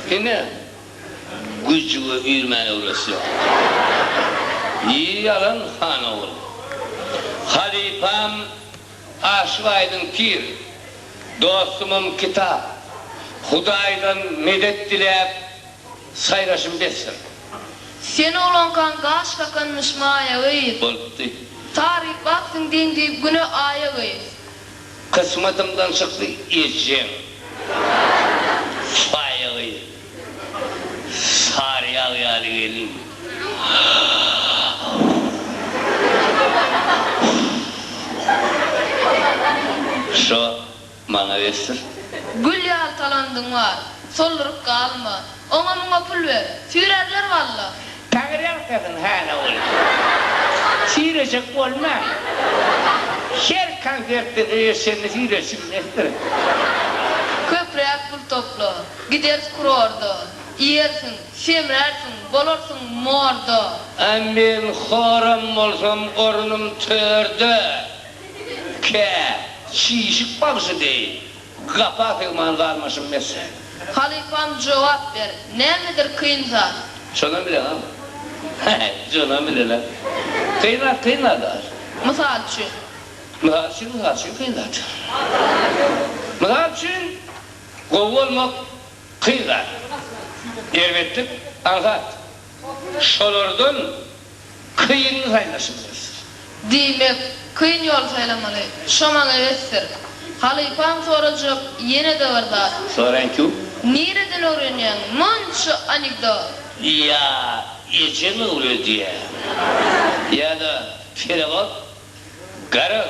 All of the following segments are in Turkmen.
Ine, güjüge üýrmän öwresýär. Nji ýalan han ogly. Halypam aşyk aýdyň pir, dostumam kitap. Hudaýdan medet diläp, saýraşym besdir. Sen oglankaň gaş kakanmyş maýa gyz. Bolupdy. Taryp bak siň deň diýip güne aýa gyz. Kysmatymdan çykdy ejeň saýagy Saryýag ýaly gelin. Şo maňa besdir. Gül ýaly talandyň bar, solduryp galma, Oňa muňa pul ber. Süýrerler walla. Taňry agtarsyn hana ol süýrejek bolman her konsertde söýeşende süýreşi bilesdir. Köpräk pul topla. Gideris kurorda. Iýersiň, semrärsiň, bolarsyň morda. A men horam bolsam ornum törde. Kä, çişik bagşy deý. Gapa sygman galmyşym mesje. Halypam jogap ber, nämedir kyn zat? Şonam bileňa? He-he, şonam bilele. Kyn zat, kyn zat daş. Mysal üçin? Mysal üçin, mysal üçin kyn zat. Mysal üçin, gowy bolmak kyn zat. Erbetlik aňsat. Şolardan kyn saýlaşy bilersiň. Diýmek, kyn ýoly saýlamaly. Şo maňa besdir. Halypam sorajak ýene-de bir zat. Soraýynky. Nireden öwrenýäň munça anekdot? Ýa ejem öwredýär, ýa-da perawat garag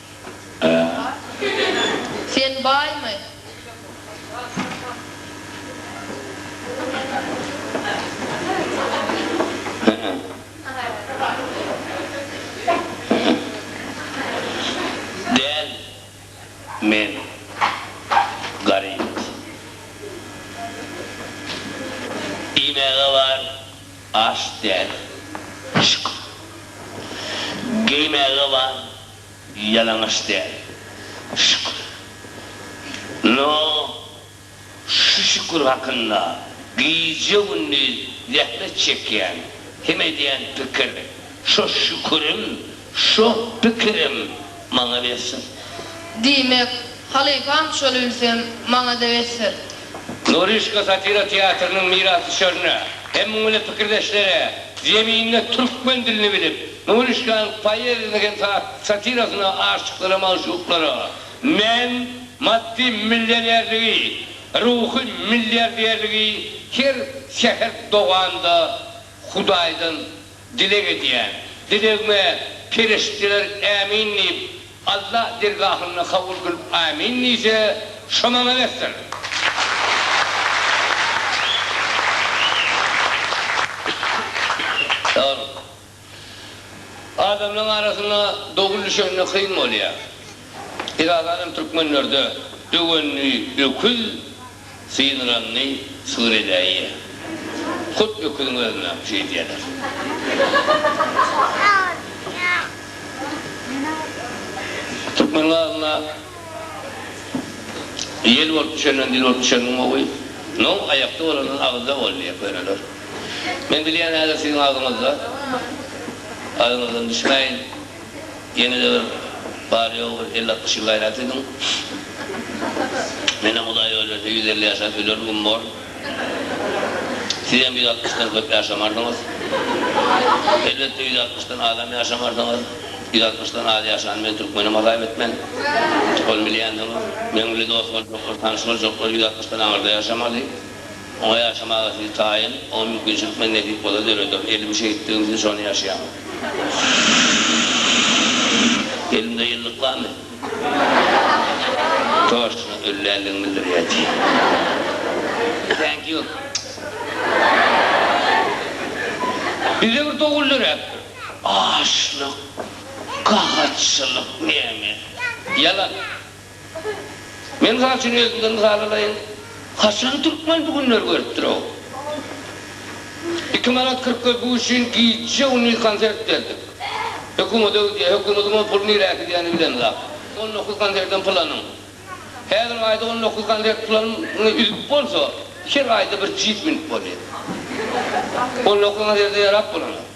Sen baýmy? Däl, men garyp. Iýmäge bar, aç däl. Şyk. Geýmäge bar, Ýalaňaç däl. Şükür. No, şu şükür hakynda gije-gündiz zähmet çekýän hem edýän pikir, şo şükürem, şo pikirem maňa besdir. Diýmek, halypam şol ülsem, maňa-da besdir. Norişka satira teatrynyň mirasdüşerine hem muňa ýene pikirdeşlere zeminde türkmen dilini bilip, Norişkanyň poeziýasyna hem satirasyna aşyklara, magşuklara men maddy millionerligi, ruhy milliarderligi her säher doganda Hudaýdan dileg edýän. Dilegime perişdeler Ämin diýip, Alla dergahynda kabul kylyp Amin diýse, şo maňa bersin. Saglyk. Adamlaryň arasynda dogul düşende kyn bolýar. Esasanam türkmenlerde döwendi öküz, Synranny syr edäýýä. Hut öküziň özünem şü edýäler. Türkmen gazyna ýel bolup düşenden dil bolup düşen gowy. Nom aýakda bolandan agyzda bol diýýä köneler. Men bilýän häzir siziň agzyňyzda. Adyňyzdan düşmäýin. Ýeňil öwrüp bary ýogy bir elli altmyş ýyl gaýrat ediň. Menem Hudaý öýlänçä ýüz elli ýaşap ölerin güm bor. Sizem ýüz altmyşdan köp ýaşamarsyňyz. Elbetde ýüz altmyşdan azam ýaşamarsyňyz. Ýüz altmyşdan az ýaşany men türkmenem hasap etmen. Ony bilýänsiňiz. Meň bile dost boljaklar, tanyş boljaklar ýüz altmyşdan aňyrda ýaşamaly. Oňa ýaşamaga sizi taýyn, oňa mümkinçilik men nesip bolsa döreder. Elim şehitligim üçin şony ýaşaýan. Elimde ýyllyk barmy? Toşçunyň ölländigini bildirýär diýýär. Thank you. Bize bir dogul döräpdir. Açlyk, gahatçylyk näme? Ýalan. Men mysal üçin özümden mysal alaýyn. Haçan türkmen bu günleri görüpdir-ow? Iki manat kyrk köpük üçin gije-gündiz konsert berdik. Hökümet öý diýýär. Hökümediň ol puly nirä gidýänini bilemzok. On dokuz konsertem pul anyň. Häzir aýda on dokuz konsert pul alnyp üzüp bolsa, her aýda bir jip münüp bolýar. On dokuz konserte ýarap bolanok.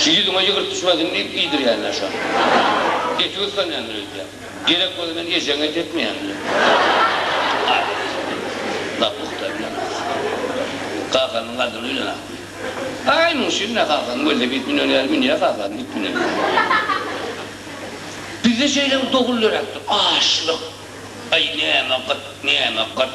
Şu ýüzüňe ýygyrt düşmesin diýip iýdirýänler şony. Eti gysganýandyr öýdýän. Gerek bolsa men ejeňe et etmeýän bilen. Aýt. Lap pugta bilen. Kakanyň gadyna öýlen ahyryn. Aý muň şir ne kakam gelse git münen ýaly münýä kakam git münen ýaly. Bizde şeýle bir doguldyrakdyr. Açlyk. Aý näme gyt näme gyrt.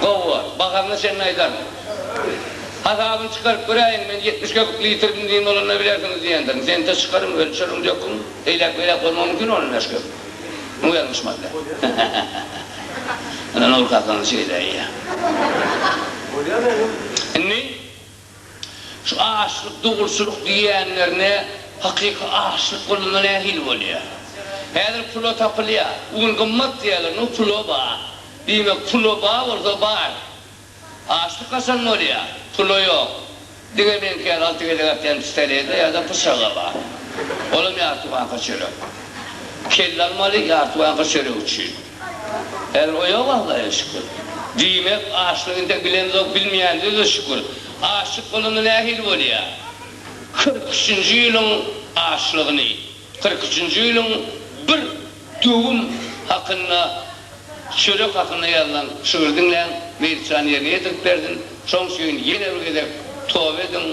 Gowy bor. Baharyna çenli aýdaryn. Hasabyny çykaryp göräýiň, men ýetmiş köpük litr benzin bolanda bilersiňiz diýendirin. Sente çykaryň, ölçeriň, döküň. Eýläk-beýläk bolmagy mümkin onuň bäş köpük. Muňa ýalňyşman däl. Ynha, Nurkakanyň çeýeleýi. Indi Şu açlyk, dogruçylyk diýýänlerine hakyky açlyk bolanda nähili bolýar? Häzir pula tapylýar. Bu gün gymmat diýýärler, nu pula ba. Diýmek, pula ba bolsa bar. Açlyk haçan bolýar? Pula ýok. Diňe meňkä alty gezek atýan pistolede ýa-da pyçagy bar. Olam ýarty banka çörek. Kelle almaly ýarty banka çörek üçin. Häzir o ýok Allaja şükür. Diýmek açlyk intek bilemzok bilmeýändize şükür. Açlyk bolanda nähili bolýa? Kyrk üçünji ýylyň açlygyny, kyrk üçünji ýylyň bir döwüm hakynda çörek hakynda ýazylan şygyry diňläň, Meýitjan ýerine ýetirip bersin, şoň üçin ýene bir gezek toba ediň,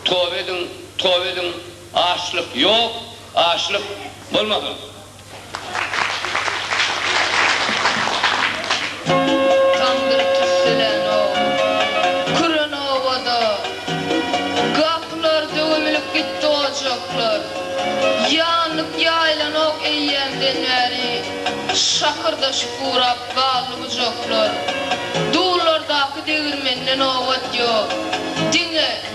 toba ediň, toba ediň, açlyk ýok, açlyk bolmasyn. Tamdyr tüsselänok, küren obada, Gapylar döwümlip gitdi ojaklar. Ýanyp ýaýlanok eýýämden bäri, Şakyrdaşyp gurap galdy bujaklar. Dullardaky degirmende nobat ýok, diňe.